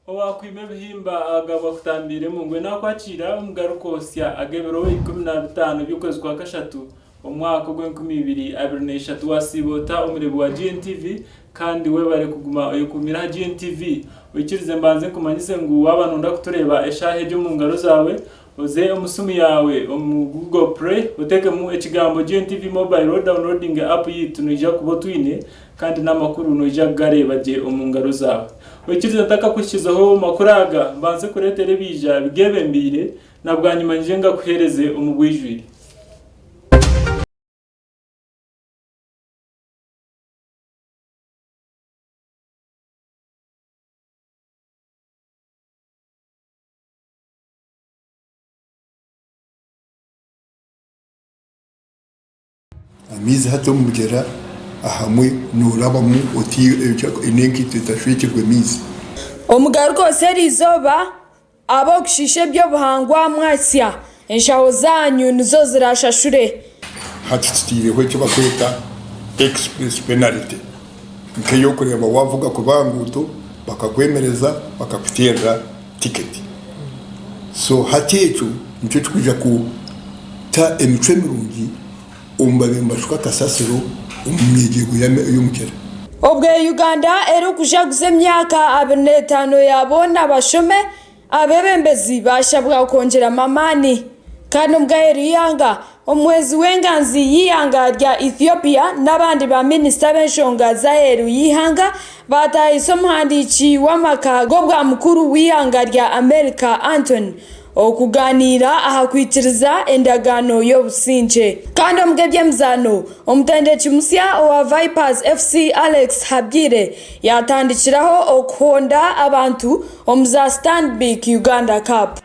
Owaakwima ebihimba agabwa kutambiiremu. Mbwenu akwatiire omugaruka osya ag'ebiro ikumi na bitaano by'okwezi kwa kashatu, Omu mwaka ogwa enkumi ibiri abiri na ishatu wasiiba ota omureebi wa GNTV kandi webare kuguma oyekuumire aha GNTV. Oikirize mbanze nkumanyise ngu waba noyenda kutureeba eshaaha egi omu ngaro zaawe, oze omu siimu yaawe omu Google Play otekemu ekigambo GNTV Mobile odawunilodinge app yaitu noija kuba otwiine kandi n'amakuru noija kugareeba gye omu ngaro zaawe. Oikirize ntakakuhikizeho makuru aga mbanze kureetera ebiija bigebembeire Na bwanyima ngye ngakuheereze omu bwijwire. Amaizi hati omugyera ahamwe norabamu oti nenkaito etashwekirwe amaizi. Omugaruka oseeri eizooba aba okushiisha eby'obuhangwa mwasya enshaho zaanyu nizo zirashashure. Hati tuteireho ekibakweta express penalty nkeyokureeba wavuga kubi ahanguuto bakakwemereza bakakuteerera. ticket so hati ekyo nikyo kikwija kuta emicwe mirungi omu babaire nibashuka kasasiro omu myegye ego y'omugyera. Obwe Uganda eri kujaguza emyaka abiri n'etaano ya boona bashome, abebembezi bashabwa kwongyeramu amaani. Kandi omugabe Ruyanga Omuhwezi w'enganzi y'eihanga rya Ethiopia n'abandi baaminisita b'enshonga z'aheeru y'eihanga baataahise omuhandiiki w'amaka g'obwamukuru w'eihanga rya Amerika Antony okugaaniira aha kwikiriza endagaano y'obusingye. Kandi omu g'eby'emizaano, omutendeki musya owa Vipers FC Alex Habwire yaatandikiraho okuhonda abantu omu za Stanbic Uganda Cup.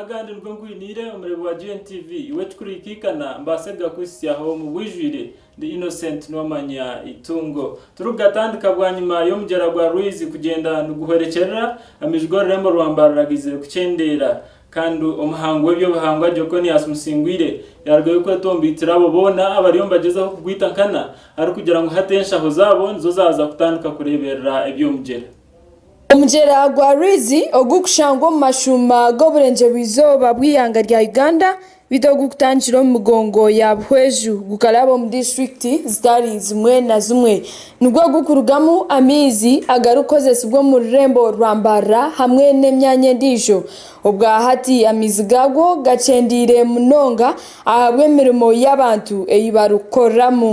Agandi nigo nkwiniire omureebi wa GNTV, iwe ekikureikaikana mbaase kugakuhitsyaho omu bwijwire. Ndi Innocent Nuwamanya Itungo. Turikugatandika bwanyima y'omugyera gwa Rwizi kugyenda niguhwerekyerera, amaiju g'orurembo rwa Mbarara gaizire kukyendeera, kandi omuhango w'eby'obuhangwa Jokonias Musingwire yaarugayo kwetombaitira abo boona abariyo nibagyezaho kugwita nkana arikugira ngu hati enshaho zaabo nizo zaaza kutandika kureeberera eby'omugyera. Omugyera gwa Rwizi ogukushangwa omu mashuuma g'oburengyerwa-izooba bw'eihanga rya Uganda beitu ogukutandikira omu migongo ya Buhweju gukaraba omu disiturikiti zitari zimwe na zimwe nigwo gukurugamu amaizi agarikukozesibwa omu rurembo rwa Mbarara hamwe n'emyanya endiijo. Obwahati amaizi gaagwo gakyendeire munonga ahabw'emirimo y'abantu ei barikukoreramu.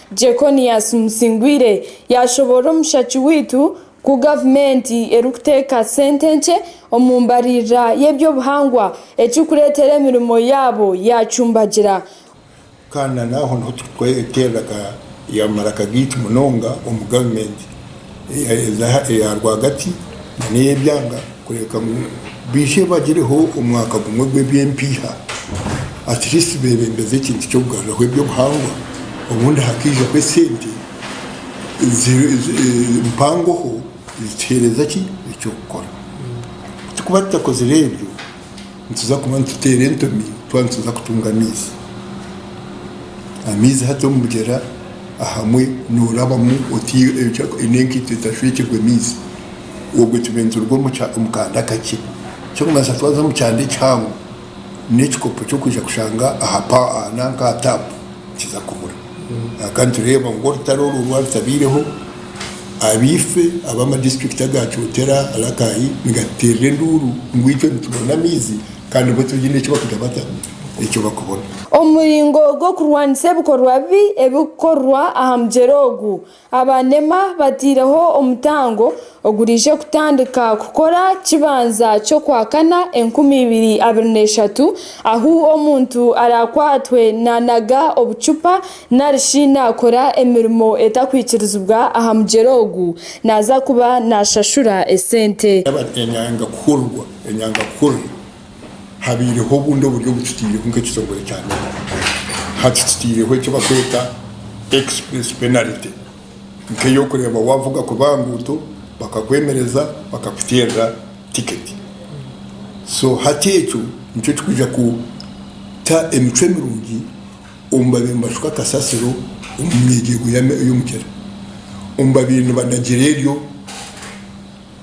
Jeconias Musingwire yaashoboorora omushaki waitu ku gavumenti erikuteeka sente nkye omu mbaririra y'eby'obuhangwa ekirikureetera emirimo yaabo yaacumbagira. Kandi nanaaho niho turikweterera ya maraka gaitu munonga omu gavumenti. eyaheza eya rwagati nana ey'ebyanga kureebeka ngu baije bagireho omwaka gumwe gw'eby'empiiha atleast beebembeze ekintu ky'okugaruraho eby'obuhangwa obundi hakaijaho esente mpangoho ezituheereza ki eky'okukora, ku tikuba tutakozire ebyo nituza kuba nituteera entomi twaba nituza kutunga amaizi. Amaizi hati omu mugyera ahamwe norabamu oti n'enkaito etashwekirwe maizi obwe tube nituruga omu kanda akakye. Ekyokumanyiisa twaza omu kyanda ekihango n'ekikopo ky'okwija kushanga aha nanka aha tap nikiza kubura. Kwonka nitureeba ngu orutaro orwo rwarutabaireho, abaife ab'ama disiturikiti aga Kyotera, Rakai nigatuteerera enduuru ngu itwe nitubona amaizi kandi bo tibaine eki bakugira bata, eki bakubona. Omu muringo gw'okurwanisa ebikorwa bibi ebirikukorwa aha mugyera ogu, Aba nema bateireho omutango oguriije kutandika kukora kibanza ky'okwakana enkumi ibiri abiri n'eshatu ahu omuntu arakwatwe nanaga obucupa narishi nakora emirimo etakwikirizibwa aha mugyera ogu naza kuba nashashura esente. Enyanga kuhurirwa. habaireho obundi oburyo obu tutaireho nk'ekitongore kya Nordic. Hati tutaireho eki bakweta express penalty nk'ey'okureeba waavuga kubi aha nguuto bakakwemereza bakakuteerera tiketi. So hati ekyo nikyo kikwija kuta emicwe mirungi omu babaire nibashuka kasasiro omu myegyergo y'omugyera, omu babaire nibanagira eryo.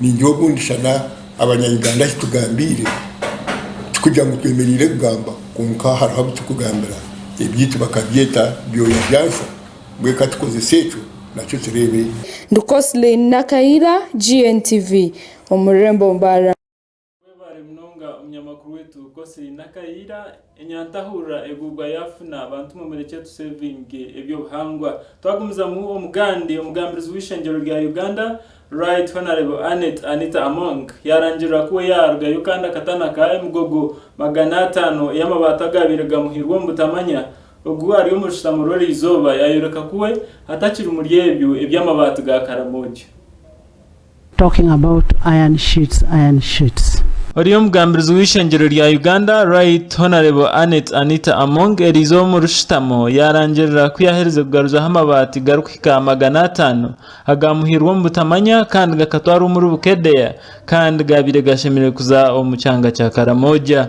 Ningira ogu ndishana abanya Uganda ahi tugambiire tikugira ngu twemereire kugamba kwonka hariho abu turikugambira ebyaitu bakabyeta byoya bya nsha mbwenu ka tukozese ekyo nakyo tureebe. Ndi Coslin Nakaira, GNTV, omu rurembo Mbarara. Webare munonga omunyamakuru wetu Cosly Nakayiira. Enyantahurira egubwa yafuna abantu mwe murekye tu sevinge ebyobuhangwa. Twagumizamu omugandi omugambirizi w'eishengyero rya Uganda Right Honourable Annet Anita Among yarangirira ku we yarugayo kandi akatana ka emigogo magana atano ey'amabaati agabaire gamuhirwe omu butamanya ogu ari omu rushutamo rw'erizooba yayoreka ku we atakiri muri ebyo eby'amabaati ga karamoja. Talking about iron sheets, iron sheets. Ori omugambirizi w'eishengyero rya Uganda Right Honourable Annet Anita Among erizooba omu rushutamo yarangirira ku yaherize kugaruzaho amabaati garikuhika aha magana ataano agaamuhairwe omu butamanya kandi gakatwarwa omuri Bukedea kandi gaabaire gashemereire kuza omu kyanga kya Karamoja.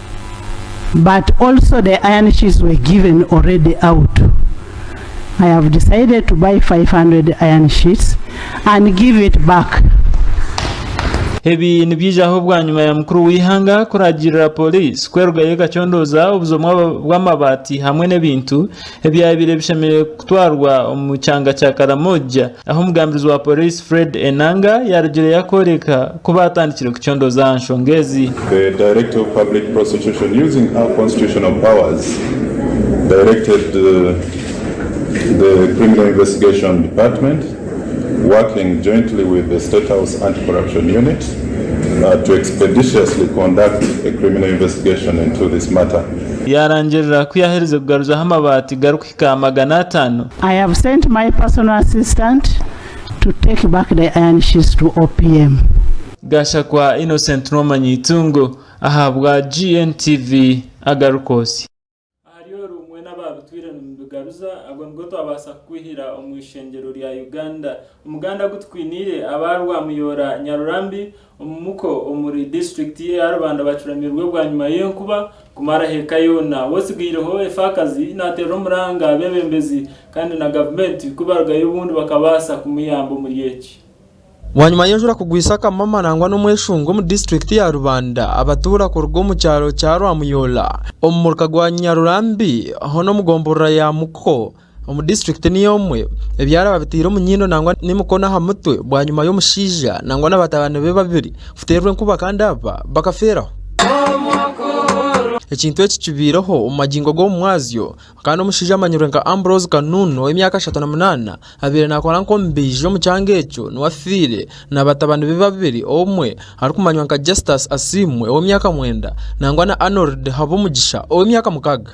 but also the iron sheets were given already out I have decided to buy 500 iron sheets and give it back. Ebi nibyijaho bwanyima ya mukuru w'eihanga kuragirira poliisi kwerugayo ekacondoza obuzo bw'amabaati hamwe n'ebintu ebyabaire bishemereire kutwarwa omu kyanga kya Karamoja. Aho omugambirizi wa poriisi Fred Enanga yaarugire yakooreka ku baatandikire kucondooza aha nshonga ezi. The Director of Public Prosecution using her constitutional powers directed the Criminal Investigation Department working jointly with the State House Anti-Corruption Unit to expeditiously conduct a criminal investigation into this matter. Yaarangirira ku yaaherize kugaruzaho amabaati gari ka magana ataano. I have sent my personal assistant to take back the iron sheets to OPM. Gashakwa Innocent N'omanyi Eitungo ahabwa GNTV Agarukosi. Ahari oru mwe n'abaabitwire nimubigaruza, ago nigo twabaasa kukwihira omu ishengyero rya Uganda. Omuganda agu tukwiniire aba Rwamuyoora Nyarurambi, Omu Muko omuri disiturikiti ye ya Rubanda bacuramirwe bwanyima y'enkuba kumaraho eka yoona. W'otsigaireho efaakazi naateera omuranga abeebembezi kandi na gavumenti ku barugayo obundi bakabaasa kumuyamba omuri eki. Bwanyima y'enjura kugwisa akamama nangwa n'omweshunga omu disiturikiti ya Rubanda, abatuura kuruga omu kyaro kya Rwamuyoola omu muruka gwa Nyarurambi hoona omu gomborora ya Muko, Omu district niyo emwe, ebyaraba biteire omu nyindo nangwa n'emikono aha mutwe bwanyima y'omushaija nangwa na batabani be babiri kuterwa enkuba kandi aba bakaferaho. Ekintu eki kibaireho omu magingo g'omu mwazyo kandi omushaija amanyirwe nka Ambrose Kanunu ow'emyaka ashatu na munana abaire nakora nk'omubaiji omu kyanga ekyo niwe afiire. na batabani be babiri omwe arikumanywa nka Justus Asiimwe ow'emyaka mwenda nangwa na Arnold Habumugisha ow'emyaka mukaaga.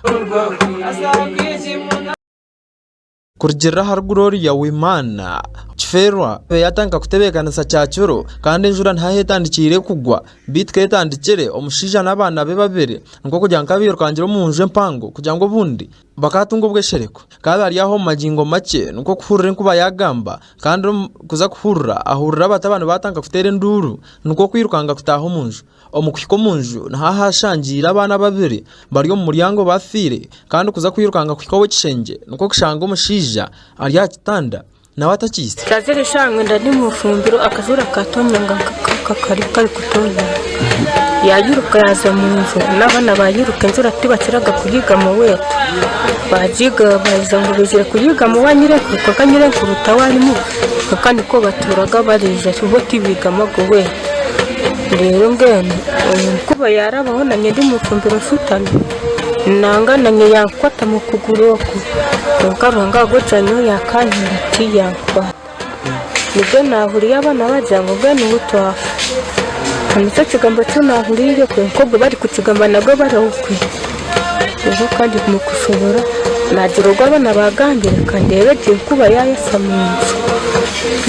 Kurugirira ahari Gloria Uwimana, Kifeerwa ebe yatandika kutebeekanisa kyakiro kandi enjura nihaho etandikiire kugwa beitu ku etandikire, omushaija n'abaana be babiri nikwo kugira ngu ka bairukangire omu nju empango kugira ngu obundi Bakaatunga obweshereko. Kaabe ari aho omu magingo makye nikwo kuhurira enkuba yaagamba, kandi omu kuza kuhurira ahurira abatabani baatandika kuteera enduuru, nikwo kwirukanga kutaaha omu nju. Omu kuhika omu nju niho ahaashangiire abaana babiri bari omu muryango baafiire, kandi kuza kwirukanga kuhika ow'ekishengye nikwo kushanga omushaija ari aha kitanda. Nawe atakiitse. Kazire eshaaha mwenda ndi omu ifumbiro, akajura akaatonyanga nk'akari karikutonyanga. Yairuka yaaza omu nju, n'abaana baairuka enjura tibakiraga kugiigamu owaitu. Baagiiga baaza ngu baizire kugiigamu ow'anyirenku kwonka nyirenku taawe arimu, kwonka nikwo batuuraga baraija bo tibaigamuga owaitu. Reero mbwenu omu nkuba yaarabaho, naanye ndi omu ifumbiro nshutami. Nanga nanye yankwatamu okuguru oku kwonka Ruhanga ahabwokukira nyowe yakankiza tiyankwata nibwo nahuriire abana bagira ngu mbwenu niho twafa ekyo nikyo kigambo eki nahuriire kwonka ogwo barikukigamba nabwo bari okwe reero kandi mukushobora nagira ogu abana bagambire kandeebe gye nkuba yayasa munju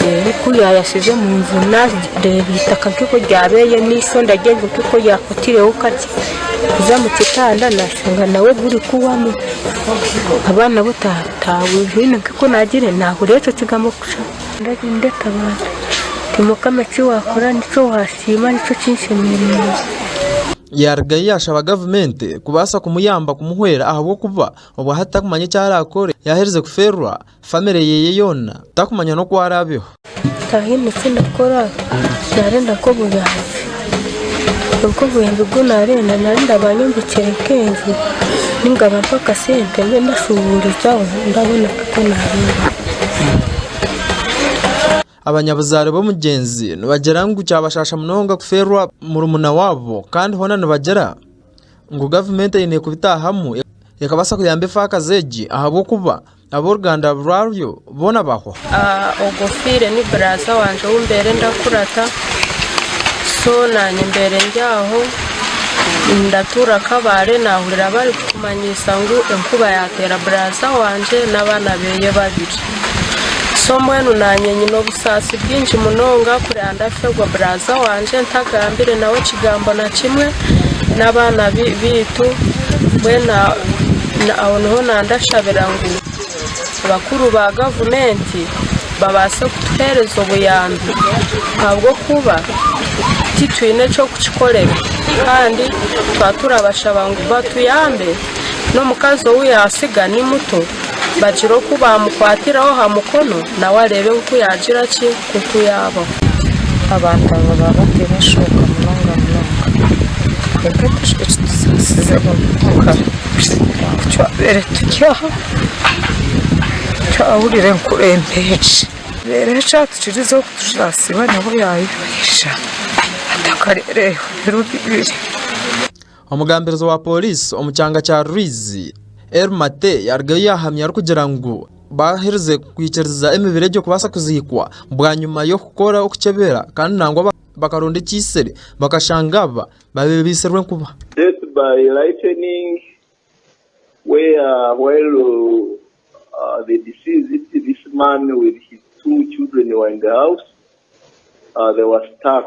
reero ku yayasize munju nareeba eitaka nk'oku ryabire n'eisho ndagira ngu nk'oku ryakutireho kakye. kuza omu kitanda nashanga nawe gurikuhwamu ahabw'okuba nawe tahwire nk'oku nagira ngu nahurira ekyo kigambo kusha. Ndagenda ndetabaara nti, Mukama eki waakora nikyo waasiima nikyo kinshemereire. Yaarugayo yaashaba gavumenti kubaasa kumuyamba kumuhwera ahabw'okuba obwahati tarikumanya eki araakore yaaherize kufeerwa. famire yeye yoona takumanya n'oku araabeho. Tihaine eki ndakora naarenda nka obuyambi kwonka obuyambi obu naarenda naarenda baanyombekere nka enju nainga bampe akasente mbe ndashuubuurizaaho ndabona nka oku naabeera. Abanyabuzaare b'omugyenzi nibagira ngu kyabashaasha munonga kufeerwa murumuna waabo kandi hoona nibagira ngu gavumenti eine kubitaahamu ekabaasa kuyamba efaakazi egi ahabw'okuba Ab'oruganda rwaryo boona bahwa. Ogwo ofiire ni buraaza wangye ou mbaire ndakurata, so naanye mbaire ndi aho ndatuura Kabale naahurira barikutumanyiisa ngu enkuba yaateera buraaza wangye n'abaana beeye babiri. So mbwenu naanye nyine obusaasi bwingi munonga kureba ndaafirwa buraaza wangye ntagambire nawe kigambo na kimwe. n'abaana baitu mbwenu aho niho nandashabira ngu abakuru ba gavumenti babaase kutuheereza obuyambi ahabw'okuba titwine eky'okukikorera kandi twaba turabashaba ngu batuyambe n'omukazi ou yaatsiga ni muto bagire oku baamukwatiraho aha mukono nawe areebe nk'oku yaagira ki Nk'oku yaabaho, abantu abo baba bataine enshoonga munonga munonga. Kwonka ekitutsitsize munonga n'oku twabaire turi aha, twahurira enkurembe egyo. Reero ekyatukirize kugira ngu Siibanyabo yaayemeisha, atakareeba ebiro bibiri. Omugambirizi wa pooriisi omu kyanga kya Rwizi, Elly Mate yarugayo yahamya arikugira ngu baaherize kwikiriza emibiri egyo kubaasa kuziikwa bwanyima y'okukora okukyebera kandi nangwa bakaronda ekiisere bakashanga aba babiri baitsirwe enkuba. Death by lightening, where while the deceased, this man with his two children were in the house, they were stuck.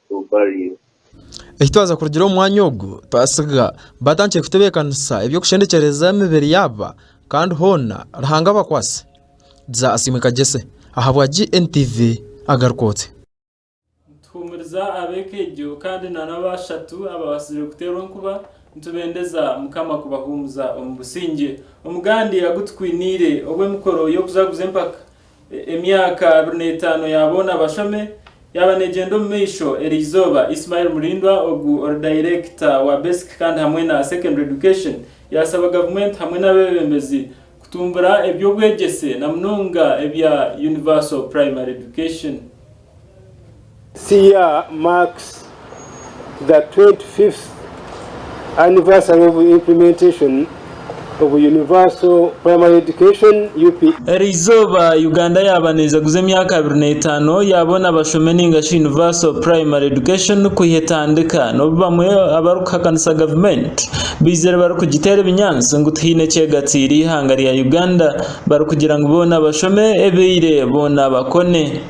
to bury you. Eki twaza kurugira omu mwanya ogu, twasiga batandikire kutebeekanisa eby'okushendekyereza emibiri yaaba kandi hoona Ruhanga abakwaase. Dza Asiimwe Kagyese ahabwa GNTV agaruka oti. Nituhuumuriza ab'ekeegyo kandi na n'abo bashatu ababaasize kuteerwa enkuba, nitubendeza Mukama kubahuumuza omu busingye. Omugandi agu tukwiniire ogw'emikoro y'okuzaguza empaka Emyaka abiri n'etaano ya boona bashome yaaba neegyenda omu maisho eriizooba Ismael Mulindwa ogu ori dayirekita wa Basic kandi hamwe na Secondary Education yaasaba gavumenti hamwe n'abeebembezi kutumbura eby'obwegyese na munonga ebya Universal Primary Education. Cia marks the 25th anniversary of implementation of Universal Primary Education, UPE. Eri izooba Uganda yaaba neija kuza emyaka abiri n'etaano yaabona abashome nainga shi Universal Primary Education kwiha etandika n'obu bamwe abarikuhakanisa gavumenti baizire barikugiteera ebinyaatsi ngu tihaine kyegatiire eihanga rya Uganda barikugira ngu boona bashome ebeire boona bakone.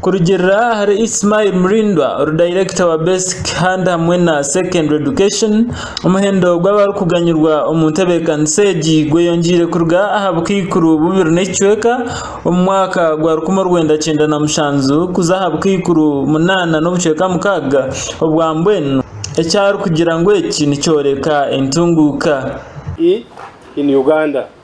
Kurugiirira ahari Ismail Mlindwa, orudayirekita wa Basic Hand hamwe na Secondary Education, omuhendo gw'abarikuganyirwa omu ntebeekanisa egi gweyongyeire kuruga aha bukaikuru bubiri n'ekicweka omu mwaka gwa rukumi orwenda kyenda na mushanju kuza aha bukaikuru munaana n'obucweka mukaaga obwa mbwenu, ekyarikugira ngu eki nikyoreka entunguuka.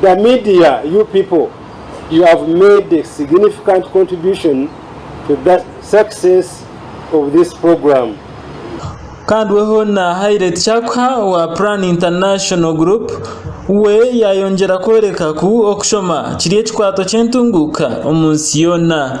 The media you people you have made a significant contribution to the success of this program. Kandi we hoona haire tikyakuha owa Plan International Group we yayongyera kworeka ku okushoma kiri ekikwato ky'entunguuka omu nsi yoona.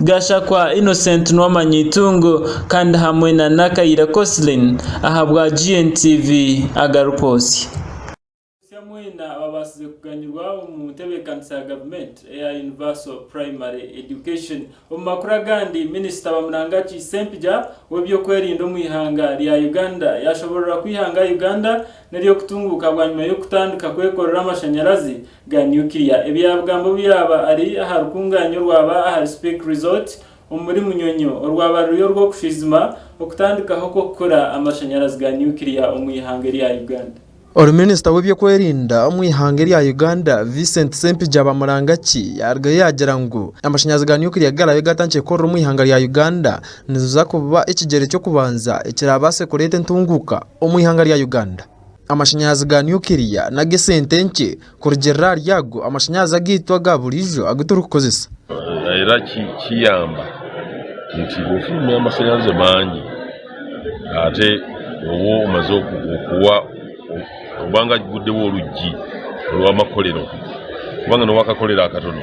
Gashakwa Innocent n'ow'amanyi eitungo kandi hamwe na Nakaire Coslyn ahabwa GNTV agarikwotsya. Botsya mwena ababaasize kuganyirwa omu ntebeekanisa ya gavumenti eya Universal Primary Education. Omu makuru agandi, Minisita Bamurangaki Ssempija w'ebyokwerinda omu ihanga rya Uganda yaashoboorora ku ihanga Uganda n'ery'okutunguuka bwanyima y'okutandika kwekorera amashanyarazi ga nuclear. Ebyabugambo byaba ari aha rukungaanya orwaba ahari Speke Resort omuri Munyonyo orwaba ruri orw'okushwijima okutandikaho kw'okukora amashanyarazi ga nuclear omu ihanga erya Uganda. Ori Minisita w'ebyokwerinda omu ihanga erya Uganda, Vincent Ssempijja Bamurangaki yarugayo yagira ngu amashanyarazi ga nuclear garaabe gaatandikire kukorera omu ihanga rya Uganda niziza kuba ekigyere ky'okubanza ekiraabaase kureeta entunguuka omu ihanga rya Uganda. Amashanyarazi ga nukiriya n'ag'esente nkye kurugiirira ahari ago amashanyarazi agaitu aga buriijo agu turikukoresa. Era kiyamba nti obu oine amashanyarazi maingi ate oba omaze kuhwa oba ngu agigudeho orwigi orw'amakorero kubanga noba wakakorera akatono.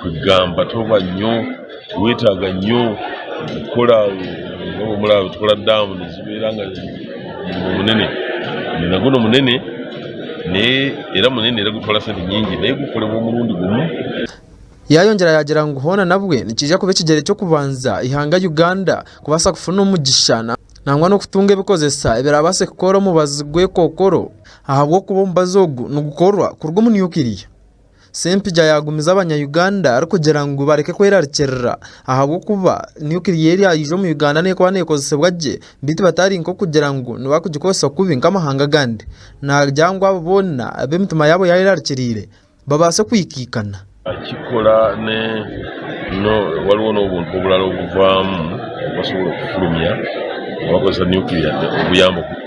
kwegamba toba nyo tiwetaga nyo kukora kukora damu nizibeera nga omurimo munene omurimo gunu munene naye era munene era gutwara sente nyingi naye gukorerwa omurundi gumwe. Yayongyera yagira ngu hoona nabwe nikiija kuba ekigyere eky'okubanza eihanga Uganda kubaasa kufuna omugisha nangwa n'okutunga ebikozesa ebiraabaase kukora omubazi gw'ekookoro ahabw'okuba omubazi ogu nigukorwa kuruga omu nukiriya. Sempija yaagumiza Abanya-Uganda arikugira ngu bareke kwerarikirira ahabw'okuba nukiriyeeri yaija omu Uganda neekuba neekozesebwa gye beitu batari nk'okugira ngu nibo barikugikozesa kubi nk'amahanga agandi. Naagira ngu abo boona abu emitima yaabo yaayerarikiriire babaase kwikaikana. Ekikukora ni waliwo n'obuntu oburala obuvaamu obu basobola kufurumya ngu bakozesa nukiriya obuyambo.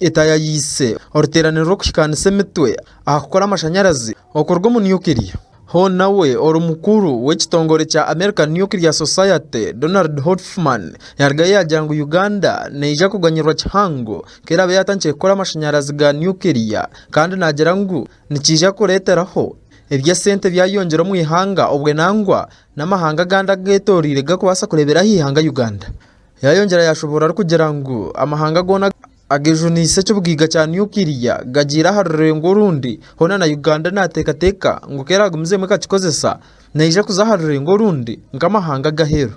Eta yayiise oruteeraniro rw'okuhikaanisa emitwe aha kukora amashanyarazi okuruga omu nukiriya. Hon nawe ori mukuru w'ekitongore kya American Nuclear Society Donald Hoffman yarugayo yaagira ngu Uganda neija kuganyirwa kihango ku eraabe yaatandikire kukora amashanyarazi ga nukiriya kandi naagira ngu nikiija kureeteraho eby'esente byayeyongyera omu ihanga obwe nangwa n'amahanga agandi ageetoroire gakubaasa kureebera aha ihanga Uganda. Yaayongyera yaashoboorora arikugira ngu amahanga goona agejuniise eky'obugaiga kya nukiria gagiire aha rurengo orundi, hoona na Uganda naateekateeka ngu ku eraagumizeemu ekakikozesa, neija kuza aha rurengo orundi nk'amahanga ag'aheeru.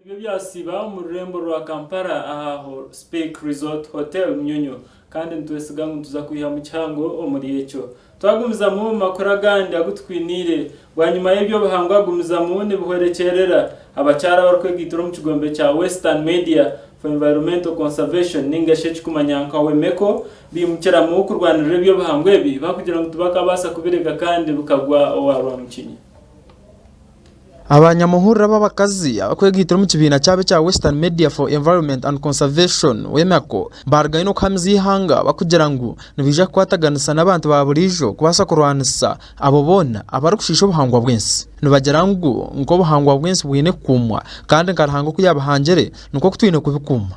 Ebyo byasiiba omu rurembo rwa Kampala aha Speke Resort Hotel Munyonyo kandi nitwesiga ngu nituza kwihamu kihango omuri ekyo. Twagumizamu omu makuru agandi agu tukwiniire. Bwanyima y'eby'obuhangwa gumizamu nibihwerekyerera abakyara abarikwegaitira omu kigombe kya Western Media for Environmental Conservation ninga shi ekirikumanywa nka WEMECO baimukiramu kurwanirira eby'obuhangwa ebi bakugira ngu tibakabaasa kubirega kandi bikagwa owa rwamukinya. Aba nyamuhurira b'abakazi abakwegaitire omu kibiina kyabo ekya Western Media for Environment and Conservation, WEMECO, baarugaine kuhamiza eihanga barikugira ngu nibaija kukwataganisa n'abantu ba buriijo kubaasa kurwanisa abo boona abarikushiisha obuhangwa bw'ensi. Nibagira ngu nk'obuhangwa bw'ensi bwine kukuumwa kandi nka Ruhanga oku yaabihangire nikwo ku twine kubikuuma.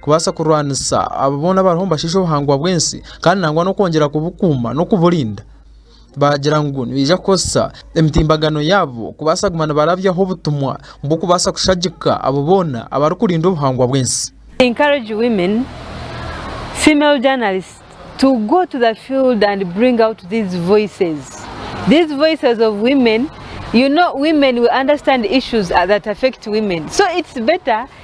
kubaasa kurwanisa abo boona abariho nibashiisha obuhangwa bw'ensi kandi nangwa n'okwongyera kubukuuma n'okuburinda. Baagira ngu nibaija kukoresa emitimbagano yaabo kubaasa kuguma nibarabyaho obutumwa bw'okubaasa kushagika abo boona abarikurinda obuhangwa bw'ensi. Encourage women, female journalists to go to the field and bring out these voices, these voices of women, you know women we understand issues that affect women so it's better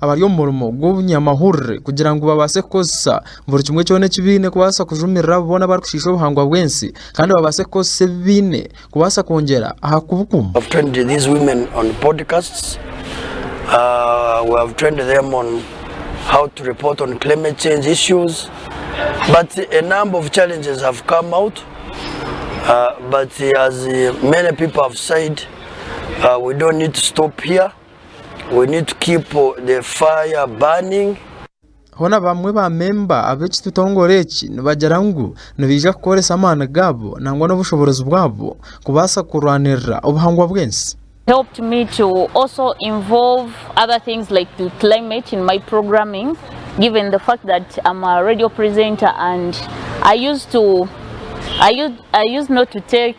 abari omu murimo gw'obunyamahurire kugira ngu babaase kukoresa buri kimwe kyona eki baine kubaasa kujumirira abo boona abarikushiisha obuhangwa bw'ensi kandi babaase kukoresa ebi baine kubaasa kwongyera aha kubukuuma. We need to keep the fire burning. Hoona abamwe ba memba ab'ekitutongore eki nibagira ngu nibaija kukoresa amaani gaabo nangwa n'obushoborozi bwabo kubaasa kurwanirira obuhangwa bw'ensi. helped me to also involve other things like the climate in my programming given the fact that I'm a radio presenter and I used to I used I used not to take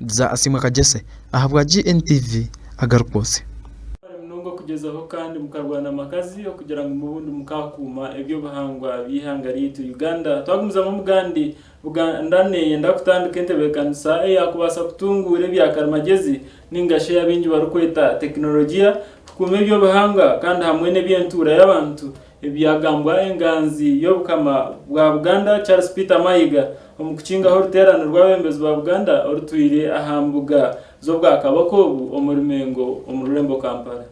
Dza Asiimwe Kagyese ahabwa GNTV agarukwotse. Mwebare munonga kugyezaho kandi mukarwana makazi okugira ngu mubundi mukakuuma ebyobuhangwa by'eihanga ryaitu Uganda. Twagumizamu omugandi, Buganda neyenda kutandika entebekanisa eyakubaasa kutunguura ebya karimagyezi ninga shi eyi abaingi barikweta tekinologiya kukuuma ebyobuhangwa kandi hamwe n'eby'entuura y'abantu Ebi byagambwa enganzi y'Obukama bwa Buganda Charles Peter Mayiga omu kukingaho oruteerane rw'abebembezi ba Buganda orutwire aha mbuga z'Obwakabaka obu omuri Mengo omu rurembo Kampala.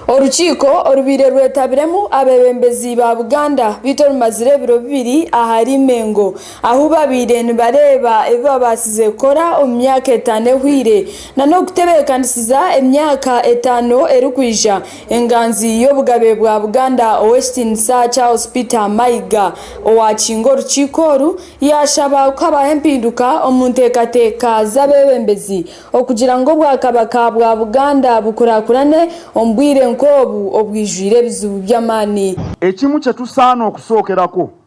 Orukiiko orubaire rwetabiremu abebembezi ba Buganda beitu orumazire ebiro bibiri ahari Mengo ahu baabaire nibareeba ebi baabaasize kukora omu myaka etaano ehweire nana okutebeekanisiza emyaka etaano erikwija enganzi y'obugabe bwa Buganda Ow'ekitiinisa Charles Peter Mayiga owaakinga orukiiko oru yaashaba kuhabaho empinduka omu nteekateeka z'abeebembezi okugira ngu Obwakabaka bwa Buganda bukurakurane omu bwire nk'obu obwijwire ebizibu by'amaani. Ekimwe kye tusaana okushokerako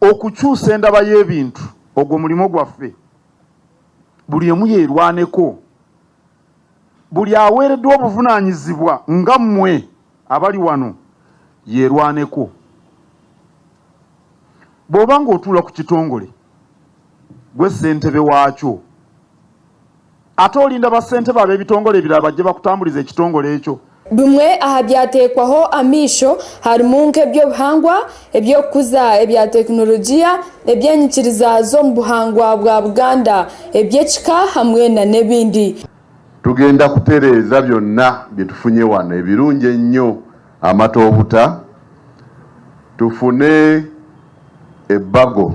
Okukyusa endaba y'ebintu ogwo murimo gwaffe. Buri emwe yerwaneko. Buri aweredwa obuvunanyizibwa nga mwe abari wano yerwaneko. Bwoba nga otuura ku kitongore, gwe sentebe wakyo. Ate orinda bassentebe ab'ebitongole ebiraaba gye bakutamburiza ekitongole ekyo? Bimwe aha byateekwaho amaisho harimu nk'eby'obuhangwa, eby'okukuza ebya tekinologiya, eby'enyikiriza z'omu buhangwa bwa Buganda, eby'ekika hamwe na n'ebindi. Tugenda kutereeza byonna bye tufunye wano ebirungi ennyo amata obuta, tufune ebbago.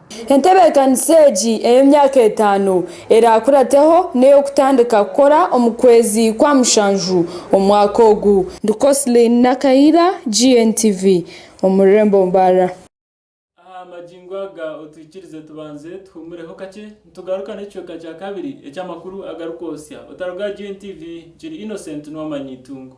Entebeekanisa egi ey'emyaka etaano eraakurateho n'ey'okutandika kukora omu kwezi kwa mushanju omwaka ogu. Ndi Coslin Nakaira, GNTV, omu rurembo Mbarara. Aha magingo aga otwikirize tubanze tuhuumureho kakye nitugaruka n'ekicweka kya kabiri eky'amakuru agarikwotsya. Otaruga aha GNTV, nkiri Innocent Nuwamanya Itungo.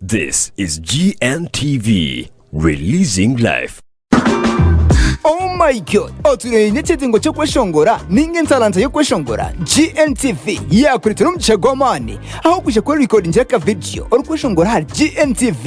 This is GNTV, releasing life. Oh my god otureye n'ekizingo ky'okweshongora ninga ensalansa y'okweshongora gntsv yakuretera omugisha gw'amaani aho kwija kwerekodingira akavidiyo orikweshongora ahari gntsv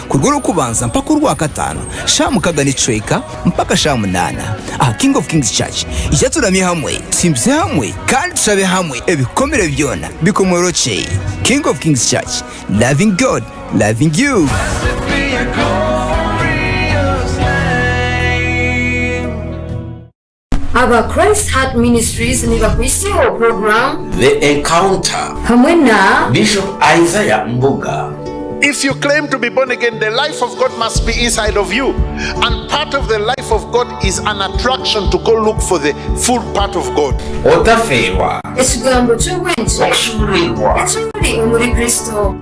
Kuruga orw'okubanza mpaka orwakataano, shaaha mukaaga n'ekicweka mpaka shaaha munaana, aha King of Kings Church. Ija turamye hamwe, tusimbise hamwe, kandi tushabe hamwe ebikomire byona bikomorokye. King of Kings Church, loving God, loving you. Aba Christ Heart Ministries nibakwiseho puroguramu. The Encounter hamwe na. Bishop Isaiah Mbuga. If you claim to be born again the life of God must be inside of you and part of the life of God is an attraction to go look for the full part of God. Otafeerwa. Ekigambo ky'obwengye. Okushuuruurwa. Ekimuri omuri Kristo.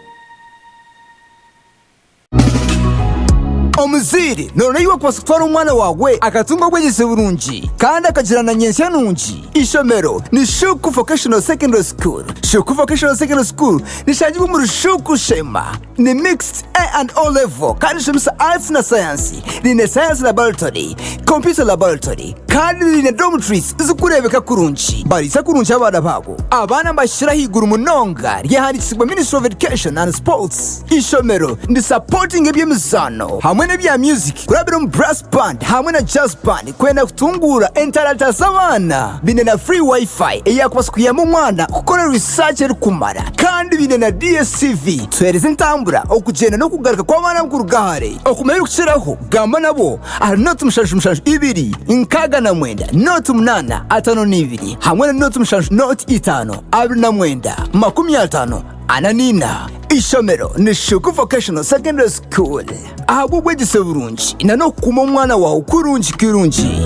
Omuzaire, noona ei wakubaasa kutwara omwana waawe akatunga obwegyese burungi kandi akagira na nyentsya nungi? Eishomero ni Shuuku Vocational Secondary School. Shuuku Vocational Secondary School nishangirwa omuri Shuuku Sheema. Ni Mixed A and O Level kandi nishomesa Arts na Sayansi. Riine Science Laboratory, Computer Laboratory, Kandi baine dormitories zirikureebeka kurungi. Bariisa kurungi abaana baabo. Abaana nibahikira ahaiguru munonga ryahandiikisibwa Ministry of Education and Sports. Eishomero nirisapotinga eby'emizaano hamwe n'ebya music kurabira omu Brass Band hamwe na Jazz Band kwenda kutunguura entarata z'abaana. Baine na free Wi-Fi eyaakubaasa kuyamba omwana kukora research erikumara. Kandi baine na DSTV tuheereza entambura, okugyenda n'okugaruka kw'abaana kuruga hare. Okumanya ebirikukiraho, gamba nabo. Ahari nooti mushanju mushanju ibiri, nkaaga na mwenda, nooti munaana, ataano n'ibiri, hamwe na nooti mushanju nooti itaano, abiri na mwenda, makumi ataano, ana n'eina. Eishomero ni Shuku Vocational Secondary School ahabw'obwegyese burungi na n'okukuuma omwana waawe kurungi kirungi.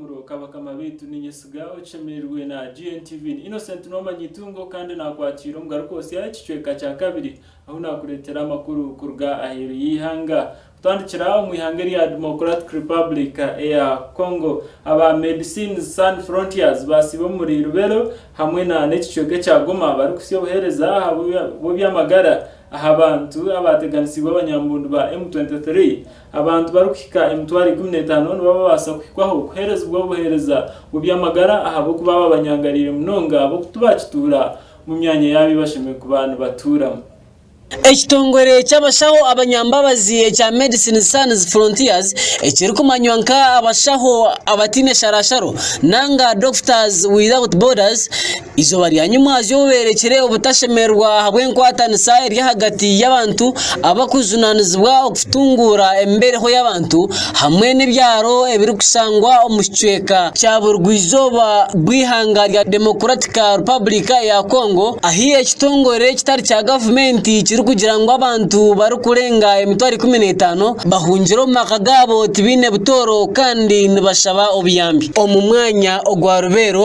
Muro ka bakama baitu, ninyesiga okishemerirwe na GNTV. Ni Innocent Noman Itungo kandi nakwatiire omu Garukootsya ekicweka kya kabiri ahu nakureetera amakuru kuruga aheeru y'eihanga. Kutandikira omu ihanga erya Democratic Republic eya Congo, aba Medecines San Frontiers baasiiba omuri Lubero hamwe na n'ekicweka ekya Goma barikutsya obuheereza bw'ebyamagara aha bantu abaateganisiibwe abanyambundu ba M23 Abantu barikuhika emitwaro ikumi n'etaano nibo babaasa kuhikwaho kuheerezibwa obuheereza mu by'amagara ahabw'okuba aba banyangariire munonga b'okutu baakituura mu myanya y'abi bashemereire kuba nibatuuramu. Ekitongore ky'abashaho abanyambabazi ekya Medicine Sans Frontiers, ekirikumanywa nka Abashaho Abataine Sharasharo nanga Doctors Without Borders, Eizooba rya nyimwazyo oberekire obutashemererwa ahabw'enkwatanisa eri ahagati y'abantu abarikujunaanizibwa okutunguura embereho y'abantu hamwe n'ebyaro ebirikushangwa omu kicweka kya burugwa eizooba bw'eihanga rya Demokuratiki Republika ya Kongo ahu ekitongore ekitari kya gavumenti kirikugira ngu abantu barikurenga emitwaro ikumi n'etaano bahungire omu maka gaabo tibaine butooro kandi nibashaba obuyambi omu mwanya ogwa Rubeero.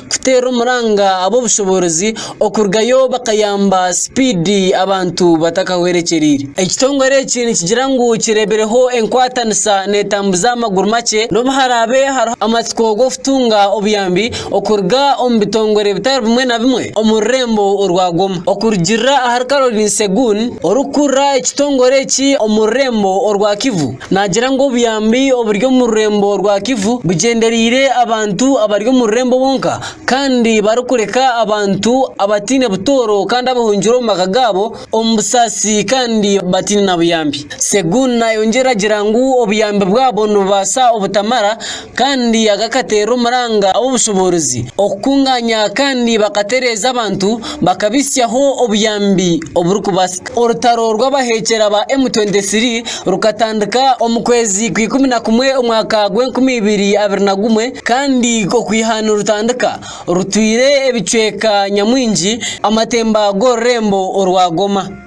kuteera omuranga ab'obushoboorozi okurugayo bakayamba sipiidi abantu batakahwerekyereire. Ekitongore eki nikigira ngu kireebireho enkwatanisa neetambuza aha maguru makye n'obu haraabe hariho amatsiko g'okutunga obuyambi okuruga omu bitongore bitari bimwe na bimwe omu rurembo orwa Goma. Okurugiirira ahari Caroline Segun orikukurira ekitongore eki omu rurembo orwa Kivu, Naagira ngu obuyambi oburi omu rurembo rwa Kivu bugyendereire abantu abari omu rurembo bonka kandi barikureka abantu abataine butooro kandi abahungire omu maka gaabo omu busaasi kandi bataine na buyambi. Segun nayongyera agira ngu obuyambi bwabo nibubaasa obutamara. kandi agakateera omuranga ow'obushoboorozi okukungaanya kandi bakatereeza abantu bakabitsyaho obuyambi oburikubaasika. Orutaro rw'abaheekyera ba M23 rukatandika omu kwezi kwa ikumi na kumwe omwaka gwa enkumi ibiri abiri na gumwe kandi okwiha nirutandika rutwire ebicweka nyamwingi amatemba g'orurembo orwa Goma.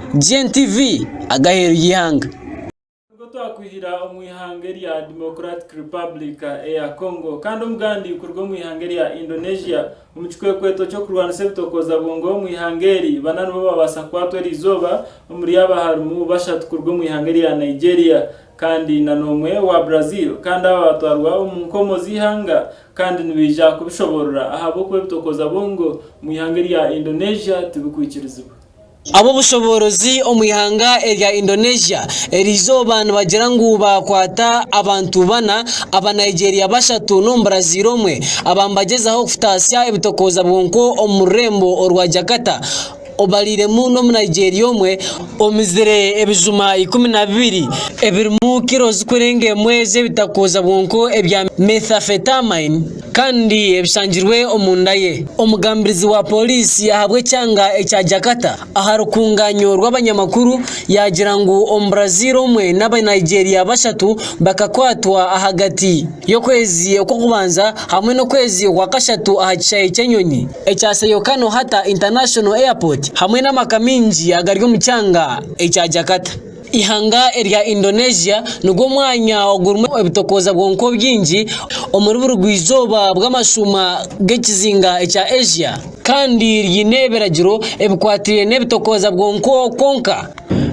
GNTV, Agaheru y'eihanga. Nibwo twakwihira omu ihanga erya Democratic Republic eya Congo kandi omugandi kuruga omu ihanga erya Indonesia omu kikwekweto ky'okurwanisa ebitokooza bwongo omu ihanga eri bana nibo babaasa kukwatwa eri izooba omuri aba harimu bashatu kuruga omu ihanga erya Nigeria kandi na n'omwe owa Brazil kandi aba batwarwa omu nkomo z'eihanga kandi nibaija kubishoborora ahabw'okuba ebitokooza bwongo omu ihanga erya Indonesia tibikwikirizibwa. Ab'obushoboorozi omu ihanga erya Indonesia eri izooba nibagira ngu baakwata abantu bana, aba Nigeria bashatu n'omubaraziira omwe aba nibagyezaho kutaasya ebitokooza bwonko omu rurembo orwa Jakarta obariiremu n'omu Nigeria omwe omizire ebijuma ikumi na bibiri ebirimu kiro zikurenga emwe z'ebitakooza bwonko ebya Methamphetamine. kandi ebishangirwe omu nda ye. Omugambirizi wa pooriisi yaahabwa ekyanga ekya Jakarta aha rukungaanyo rw'abanyamakuru yaagira ngu Omubraziil omwe n'Abanigeria bashatu bakakwatwa ahagati y'okwezi okw'okubanza hamwe n'okwezi okwa kashatu aha kishaayi ky'enyonyi ekya Soekarno-Hatta International Airport hamwe n'amaka maingi agari omu kyanga ekya Jakarta. Eihanga erya Indonesia nigwo mwanya ogurimu ebitokooza bwonka obwingi omuri burugwa-izooba bw'amashuuma g'ekizinga ekya Asia, kandi ryine ebiragiro ebikwataine n'ebitokooza bwonka kwonka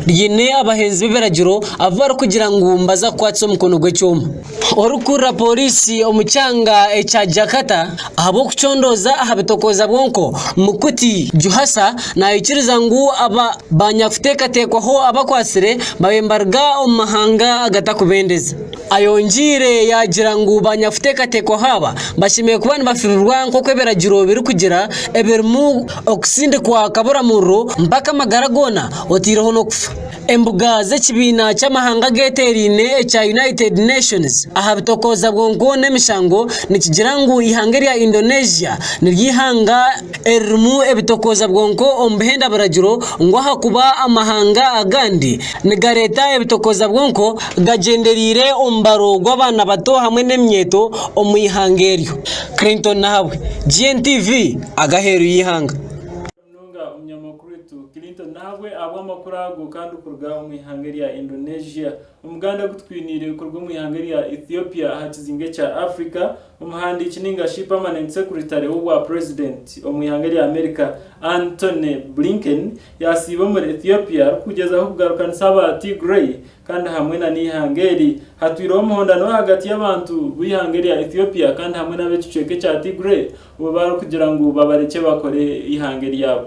ryine abahenzi b'ebiragiro abu barikugira ngu nibaza kukwatisa omukono gw'ekyoma. Orikukurira pooriisi omu kyanga ekya Jakarta ahabw'okucondooza aha bitokooza bw'enko, Mukhuti Juhasa naikiriza ngu aba banyakuteekateekwaho abakwatsire babaire nibaruga omu mahanga agatarikubendeza. Ayongiire yaagira ngu banyakuteekateekwaho aba bashemereire kuba nibafirirwa nk'oku ebiragiro birikugira ebirimu okusindikwa kaburamuriro mpaka amagara goona oteireho n'okufa. Embuga z'ekibiina ky'amahanga ageteeraine ekya United Nations aha bitokooza bwonko n'emishango nikigira ngu eihanga erya Indonesia niryo ihanga eririmu ebitokooza bwonko omu bihenda biragiro ngu ahakuba amahanga agandi nigareeta ebitokooza bwonko gagyenderaire omubaro gw'abaana bato hamwe n'eminyeeto omu ihanga eryo. Clinton Nahabwe, GNTV, Aheeru y'eihanga. munonga omunyamakuru waitu Clinton Nahabwe ahabw'amakuru ago kandi kuruga omu ihanga erya Indonesia. Omuganda ogu tukwiniire kuruga omu ihanga erya Ethiopia aha kizinga ekya Africa, omuhandiiki ninga shi Permanent Secretary w'obwa President omu ihanga erya America Antony Blinken yasiiba omuri Ethiopia arikugyezaho kugarukanisa aba Tigray kandi hamwe na n'ihanga eri hatwireho omuhondano ahagati y'abantu b'ihanga erya Ethiopia kandi hamwe n'ab'ekicweka ekya Tigray Bo barikugira ngu babarekye bakore eihanga eryabo.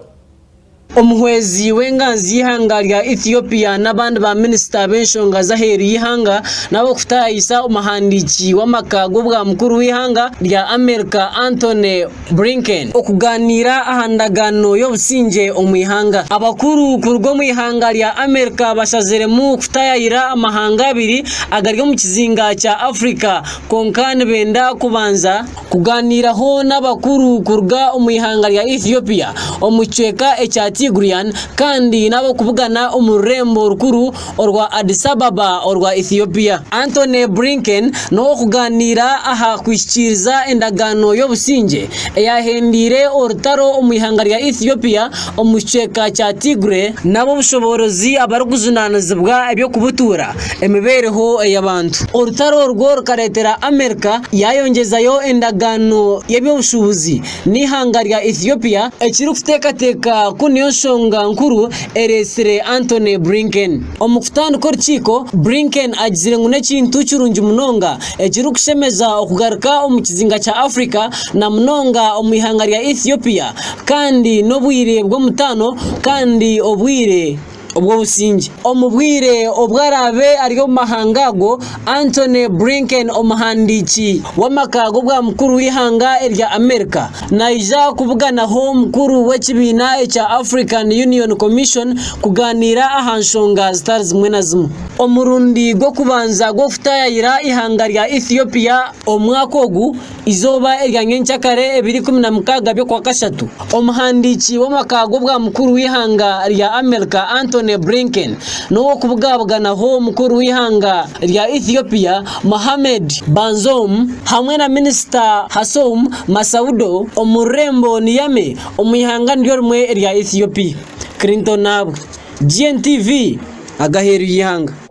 Omuhwezi w'enganzi y'eihanga rya Ethiopia n'abandi ba minisita b'enshonga z'aheeru y'eihanga nabo kutaayisa omuhandiiki w'amaka g'obwa mukuru w'eihanga rya America Antony Blinken okugaaniira aha ndagaano y'obusingye omu ihanga. Abakuru kuruga omu ihanga rya America bashaziremu kutayaayira amahanga abiri agari omu kizinga kya Africa kwonka nibenda kubanza. kugaaniiraho n'abakuru kuruga omu ihanga rya Ethiopia omu kicweka ekya Tigrian kandi n'ab'okubugana omu rurembo rukuru orwa Addis Ababa orwa Ethiopia. Antony Blinken n'ow'okugaaniira aha kuhikiiriza endagaano y'obusingye eyaahendeire orutaro omu ihanga rya Ethiopia omu kicweka kya Tigray, n'ab'obushoboorozi abarikujunaanizibwa eby'okubutuura emibeereho ey'abantu. Orutaro orwo rukareetera Amerika yaayongyezayo endagaano y'eby'obushuubuzi n'eihanga rya Ethiopia, ekirikuteekateeka ku niyo nshonga nkuru ereetsire Antony Blinken. Omu kutandika orukiiko, Blinken agizire ngu n'ekintu kirungi munonga ekirikushemeza okugaruka omu kizinga kya Afrika na munonga omu ihanga rya Ethiopia kandi n'obwire bw'omutaano kandi obwire obw'obusingye. Omu bwire obu araabe ari omu mahanga ago, Antony Blinken, omuhandiiki w'amaka g'obwa mukuru w'eihanga erya Amerika, naija kubuganaho omukuru w'ekibiina ekya African Union Commission kugaaniira aha nshonga zitari zimwe na zimwe. Omurundi gw'okubanza gw'okutaayaayira eihanga rya Ethiopia omu mwaka ogu Eizooba erya nyenkyakare ebiro ikumi na mukaaga by'okwa kashatu, omuhandiiki w'amaka g'obwamukuru w'eihanga rya Amerika Antony Blinken n'ow'okubugabuganaho mukuru w'eihanga rya Ethiopia Mohamed Bazoum hamwe na minisita Hassoum Massoudo omu rurembo Niamey omu ihanga niryo rimwe erya Ethiopia. Clinton ahabwe GNTV agaheeru y'eihanga.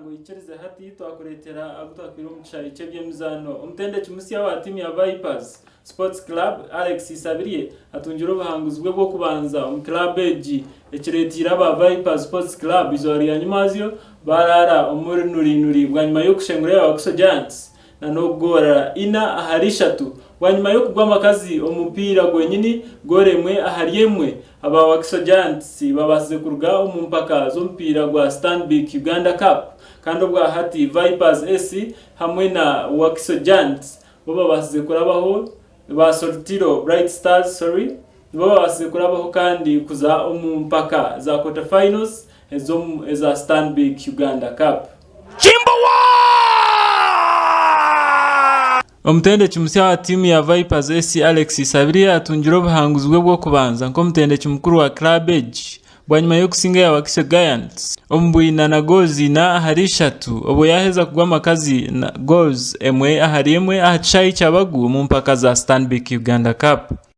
Ngu ikirize hati twakureetera agu twatwire omu kishaayi ky'eby'emizaano. Omutendeki musya wa tiimu ya Vipers Sports Club, Alex Isabirye atungire obuhanguzi bwe bw'okubanza omu kiraabu egi, ekireeteire aba Vipers Sports Club eizooba rya nyimazyo baaraara omu runuriinuri bwanyima y'okushengura Yawakiso Giants na n'okugoorara ina ahari ishatu bwanyima y'okugwa amakazi omu mupiira gwenyini goora emwe ahari emwe, aba Wakiso Giants babaasize kuruga omu mpaka z'omupiira gwa Stanbic Uganda Cup kandi obwahati Vipers SC hamwe na Wakiso Giants bo babaasize kurabaho ba Soltiro Bright Stars sorry nibo babaasize kurabaho kandi kuza omu mpaka za Quarter Finals ez'omu eza Stanbic Uganda Cup. Omutendeki musya wa tiimu ya Vipers SC Alex Isabirye atungire obuhanguzi bwe bw'okubanza nk'omutendeki mukuru wa club egi bwanyima y'okusinga eya Wakiso Giants omu bwina na goozi ina ahari ishatu obwo yaheza kugwa amaka ziina goozi emwe ahari emwe aha kishaayi kya Bagu omu mpaka za Stanbic Uganda Cup.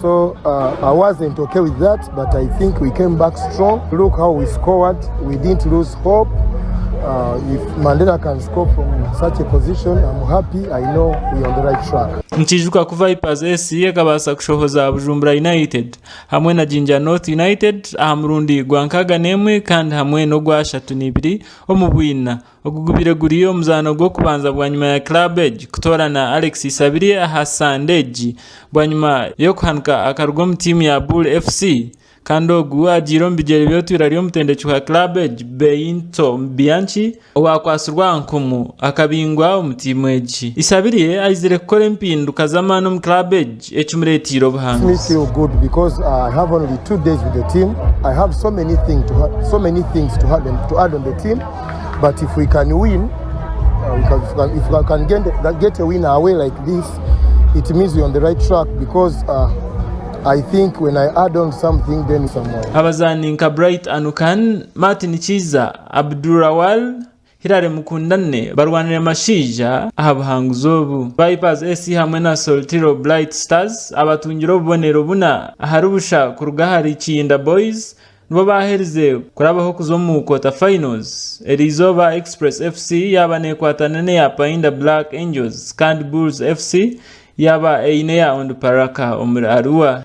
So uh, I wasn't okay with that, but I think we came back strong. Look how we scored. We didn't lose hope. Uh, if Mandela can score from such a position, I'm happy. I know we're on the right track. nikiijuka ku vipers esi ekabaasa kushohoza bujumbura united hamwe na jinja north united aha murundi gwa nkaaga n'emwe kandi hamwe n'ogwashatu n'ibiri omu bwina Ogu gubaire guri omuzaano gw'okubanza bwanyima ya club egi kutoorana Alex Isabirye aha Sande egi bwanyima y'okuhanika akaruga omu tiimu ya Bull FC kandi ogu agiire omu bigyere by'otwiira ry'omutendeki wa club egi Beinto Bianchi owakwatsirwe aha nkumu akabingwa omu tiimu egi. Isabirye aizire kukora empinduka z'amaani omu club egi. Eki mureetiire obuhanguzi. Abazaani nka Bright Anukan, Martin Kiiza, Abdul Rawal, Hillary Mukundane barwanire mashaija aha buhanguzi obu. Vipers SC hamwe na Soltiro Blight Stars abatungire obubonero buna ahari busha kuruga ahari Kiyinda Boys nibo baaherize kurabaho kuza omu Quarter Finals eri izooba Express FC yaaba neekwatana n'eya Painda Black Angels kandi Bulls FC yaaba eine eya Onduparaka omuri Arua.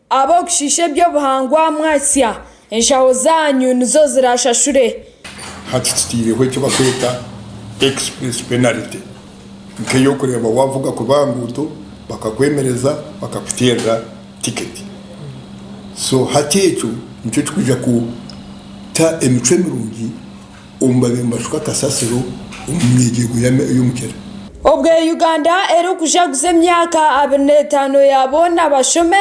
Ab'okushiisha eby'obuhangwa mwatsya, enshaho zaanyu nizo ziraashashure. Hati tutaireho eki barikweta Express Penalty, nk'ey'okureeba waavuga kubi aha nguuto bakakwemereza bakakuteerera tiketi. So hati ekyo nikyo kirikwija kuta emicwe mirungi. omu babiri nibashuka kasasiro omu myegyergo y'omukyera. Obwe Uganda eri kujaguza emyaka abiri n'etaano ya boona bashome,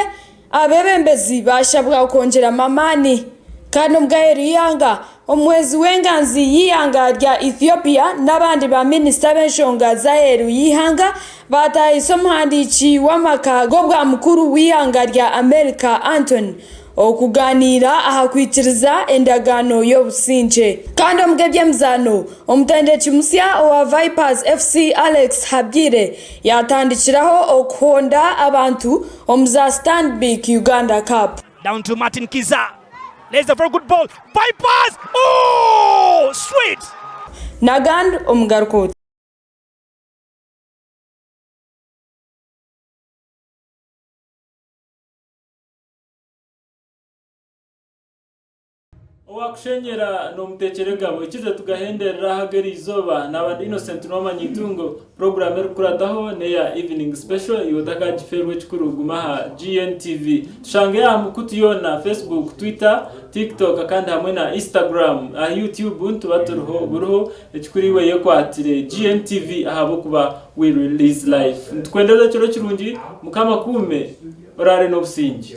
abebembezi bashabwa kwongyeramu amaani. Kandi omu g'aheeru y'eihanga, omuhwezi w'enganzi y'eihanga rya Ethiopia n'abandi ba minisita b'enshonga z'aheeru y'eihanga bataahiise omuhandiiki w'amaka g'obwa mukuru w'eihanga rya America Antony Okugaaniira aha kwikiriza endagaano y'obusingye. Kandi omu by'emizaano, omutendeki musya owa Vipers FC Alex Habwire yaatandikiraho okuhonda abantu omu za Stanbic Uganda Cup. Down to Martin Kizza. Plays a very good ball. Vipers! Ooh! Sweet! Nagan omugaruka oti. Owaakushenyera n'omuteekyera egabo. Ekize tugahenderera aha g'eri izooba. Naaba ndi Innocent Nwama Nyaitungo. Puroguraamu erikukurataho n'eya Evening Special, iwe otakagifeerwa ekikuru guma aha GNTV. Tushange aha mikutu yoona, Facebook, Twitter, Tiktok kandi hamwe na Instagram. Aha Youtube nituba turiho buriho. Ekikuru iwe yekwatire GNTV ahabw'okuba we release life. Nitukwendeza ekiro kirungi. Mukama akuume. Oraare n'obusingye.